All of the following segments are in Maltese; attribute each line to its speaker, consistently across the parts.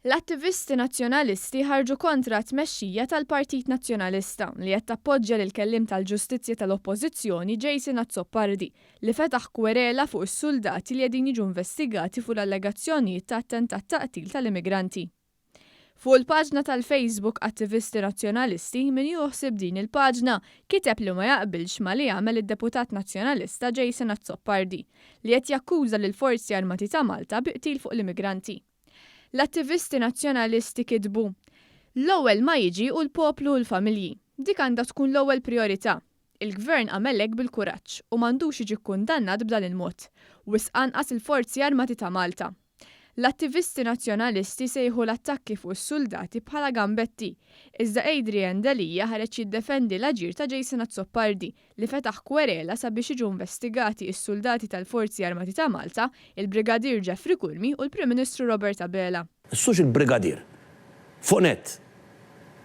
Speaker 1: L-attivisti Nazzjonalisti ħarġu kontra t-tmexxija tal-Partit Nazzjonalista li qed tappoġġja lill-Kelliem tal-Ġustizzja tal-Oppożizzjoni Jason Azzopardi li fetaħ kwerela fuq is-suldati li qegħdin jiġu investigati fuq l-allegazzjonijiet ta' attentat ta' qtil tal-immigranti. Fuq il-paġna tal-Facebook Attivisti Nazzjonalisti, min jiehu ħsieb din il-paġna kiteb li ma jaqbilx ma' li għamel id-Deputat Nazzjonalista Jason Azzopardi, li qed jakkuża lill-Forzi Armati ta' Malta bi qtil fuq l-immigranti. L-attivisti Nazzjonalisti kitbu, L-ewwel ma jiġi hu l-poplu u l-familji. Dik għandha tkun l-ewwel prijorità. Il-Gvern għamel hekk bil-kuraġġ u m'għandux jiġi kkundannat b'dan il-mod, wisq anqas il-Forzi Armati ta' Malta. L-attivisti Nazzjonalisti sejħu l-attakki fuq is-suldati bħala gambetti, iżda Adrian Delia ħareġ jiddefendi l-aġir ta' Jason Azzopardi li fetaħ kwerela sabiex jiġu investigati s-suldati tal-Forzi Armati ta' Malta, il-Brigadier Geoffrey Curmi u l-Prim Ministru Robert Abela. Issux il-brigadier.
Speaker 2: Fuq nett.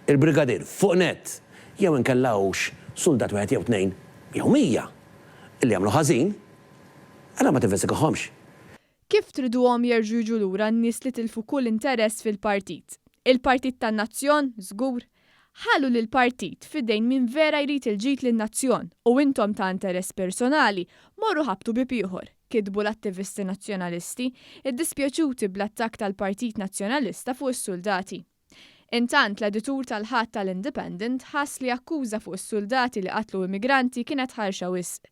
Speaker 2: Il-brigadier. Fuq nett. Jew inkella hux suldat wieħed jew tnejn jew mija li għamlu ħażin, allura ma tinvestigahomx. Kif
Speaker 1: triduhom jerġgħu jiġu lura n-nies li tilfu kull interess fil-partit? Il-partit tan-nazzjon? Żgur. Ħallu lill-partit f'idejn min vera jrid il-ġid lin-nazzjon u intom ta' interess personali morru ħabbtu bieb ieħor, kitbu l-attivisti Nazzjonalisti, iddispjaċuti bl-attakk tal-Partit Nazzjonalista fuq is-suldati. Intant, l-editur tal-Ħadd tal-Independent ħass li akkuża fuq is-suldati li qatlu immigranti kienet ħarxa wisq.